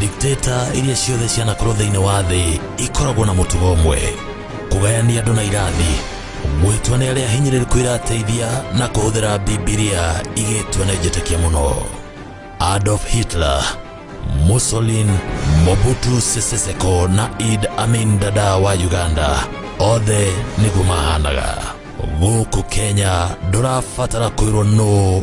dikteta iria ciothe cianakorwo thĩinĩ wa thĩ ikoragwo na mũtugo ũmwe kũgayania andũ na irathi gwĩtua nĩ arĩa ahinyĩrĩrĩku irateithia na kũhũthĩra bibilia igĩtua nĩ njĩtĩkia mũno adolf hitler musolin mobutu sese seko na id amin dada wa uganda othe nĩguo mahanaga gũkũ kenya ndũrabatara kwĩrwo nũ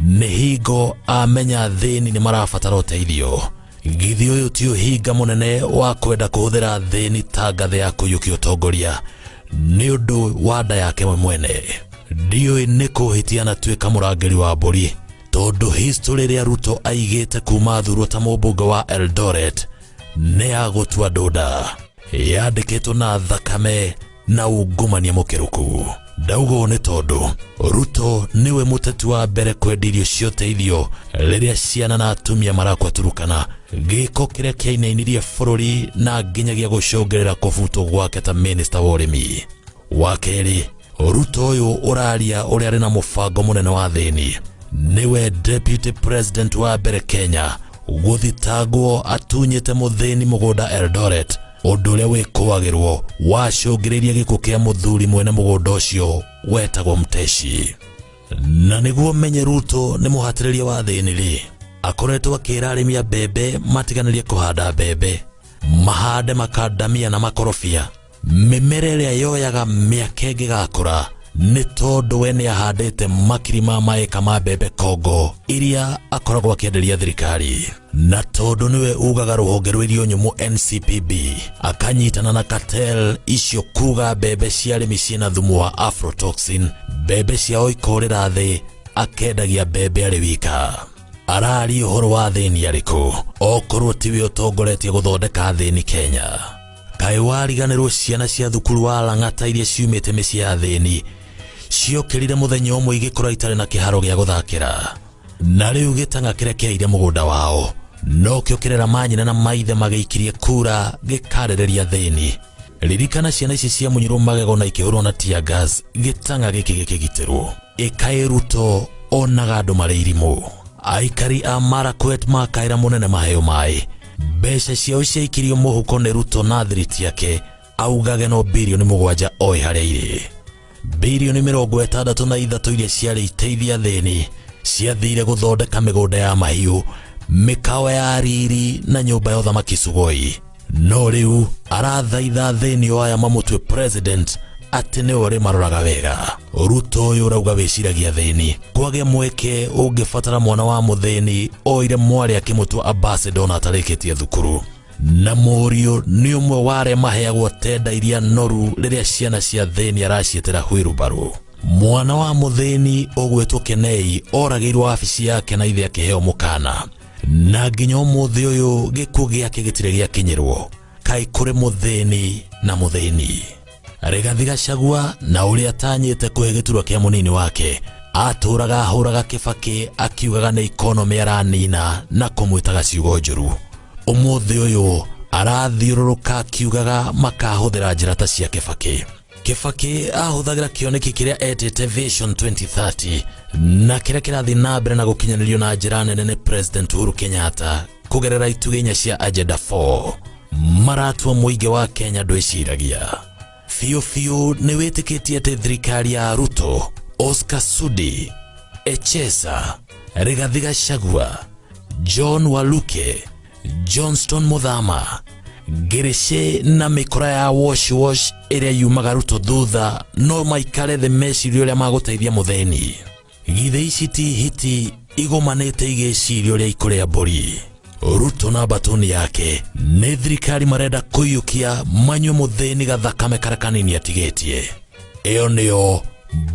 Mihingo amenya athĩni nĩ marabatara ũteithio. Githĩ ũyũ ti ũhinga mũnene wa kwenda kũhũthĩra athĩni ta ngathĩ ya kũiyũkia ũtongoria nĩ ũndũ wa nda yake we mwene? Ndiũĩ nĩ kũhĩtia na tuĩka mũrangĩri wa mbũri tondũ history ĩrĩa Ruto aigĩte kuma athurwo ta mũmbunge wa Eldoret nĩ ya gũtua ndũnda yandĩkĩtwo na thakame na ungumania mukiruku ndaugo nĩ tondũ ruto nĩwe mũteti wa mbere kwendia irio cia ũteithio rĩrĩa ciana na atumia marakwa turukana gĩko kĩrĩa kĩainainirie bũrũri na nginyagia gũcũngĩrĩra kũbutwo gwake ta minista wa ũrĩmi wa kerĩ ruto ũyũ ũraria ũrĩa arĩ na mũbango mũnene wa thĩni nĩwe deputy president wa mbere kenya gũthitangwo atunyĩte mũthĩni mũgũnda eldoret ũndũ ũrĩa wĩkũagĩrwo wacũngĩrĩirie gĩkuũ kĩa mũthuri mwene mũgũnda ũcio wetagwo Mteshi. Na nĩguo menye Ruto nĩ mũhatĩrĩria wa thĩni-rĩ, akoretwo akĩra arĩmi a mbembe matiganĩrie kũhanda mbembe, mahande makandamia na makorobia, mĩmera ĩrĩa yoyaga mĩaka ĩngĩgakũra nĩ tondũ we nĩ ahandĩte makiri ma maĩka ma mbembe Kongo iria akoragwo akĩenderia thirikari. na tondũ nĩwe ugaga rũhonge rwa irio nyũmũ NCPB akanyitana na cartel icio kuga mbembe cia arĩmi ciĩna thumu wa aflatoxin mbembe ciao ikorĩra thĩ akendagia mbembe arĩ wika arari ũhoro wa thĩni arĩkũ okorwo tiwe ũtongoretie gũthondeka thĩni Kenya kaĩ wariganĩrwo ciana cia thukuru wa Lang'ata iria ciumĩte mĩciĩ ya thĩni ciokĩrire mũthenya ũmwe igĩkora itarĩ na kĩharo gĩa gũthakĩra na rĩu gĩtanga kĩrĩa kĩaire mũgũnda wao nokĩo kĩrera manyina na maithe magĩikirie kura gĩkarereria thĩni ririkana ciana ici cia mũnyirwo magego na ikĩhũrwo na tear gas gĩtanga gĩkĩ gĩkĩgitĩrwo ĩkaĩruto onaga andũ marĩ irimũ aikari a marakwet makaĩra mũnene maheo maĩ mbeca ciao ciaikirio mũhuko nĩ ruto na thiriti yake augage no bilioni mũgwanja oĩ harĩa irĩ Bilioni mĩrongo ĩtandatũ na ithatũ iria ciarĩ iteithia thĩni ciathire gũthondeka mĩgũnda ya mahiũ, mĩkawa ya riri na nyũmba ya ũthamaki Sugoi. No rĩu arathaitha thĩni o aya mamũtue president atĩ nĩwe ũrĩmaroraga wega. Ruto ũyũ ũrauga wĩciragia thĩni, kwagĩa mweke ũngĩbatara mwana wa mũthĩni oire mwarĩ akĩmũtua ambassador na atarĩkĩtie thukuru. na mũriũ nĩ ũmwe wa arĩa maheagwo tenda iria noru rĩrĩa ciana cia thĩni araciĩtĩra hwĩrubarũ mwana wa mũthĩni ũgwĩtwo kenei oragĩirwo wabici yake na ithe akĩheo mũkana na nginya ũmũthĩ ũyũ gĩkuũ gĩake gĩtirĩ gĩakinyĩrwo kaĩ kũrĩ mũthĩni na mũthĩni Rigathi Gachagua na ũrĩa atanyĩte kũhe gĩturwa kĩa mũnini wake atũraga ahũraga Kĩbakĩ akiugaga nĩ ikonomĩ aranina na kũmwĩtaga ciugo njũru. Ũmũthĩ ũyũ arathiũrũrũka akiugaga makahũthĩra njĩra ta cia Kĩbakĩ. Kĩbakĩ ahũthagĩra kĩoneki kĩrĩa etĩte Vision 2030 na kĩrĩa kĩrathiĩ na mbere na gũkinyanĩrio na njĩra nene nĩ President Uhuru Kenyatta kũgerera itugĩ inya cia Agenda 4. maratua mũingĩ wa kenya ndwĩciragia biũ biũ nĩ wĩtĩkĩtie atĩ thirikari ya ruto oscar sudi echesa rigathi gachagua john waluke johnston muthama ngĩrĩcĩ na mĩkora ya washwash ĩrĩa yumaga ruto thutha no maikare thĩ meciria ũrĩa magũteithia mũthĩni githĩ ici ti hiti igomanĩte igĩciria ũrĩa ikũrĩa mbũri ruto na mbatũni yake nĩ thirikari marenda kũiyũkia manyue mũthĩni gathakame karĩa kanini atigĩtie ĩyo nĩyo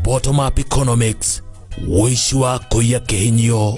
bottom up economics ũici wa kũiya kĩhinyio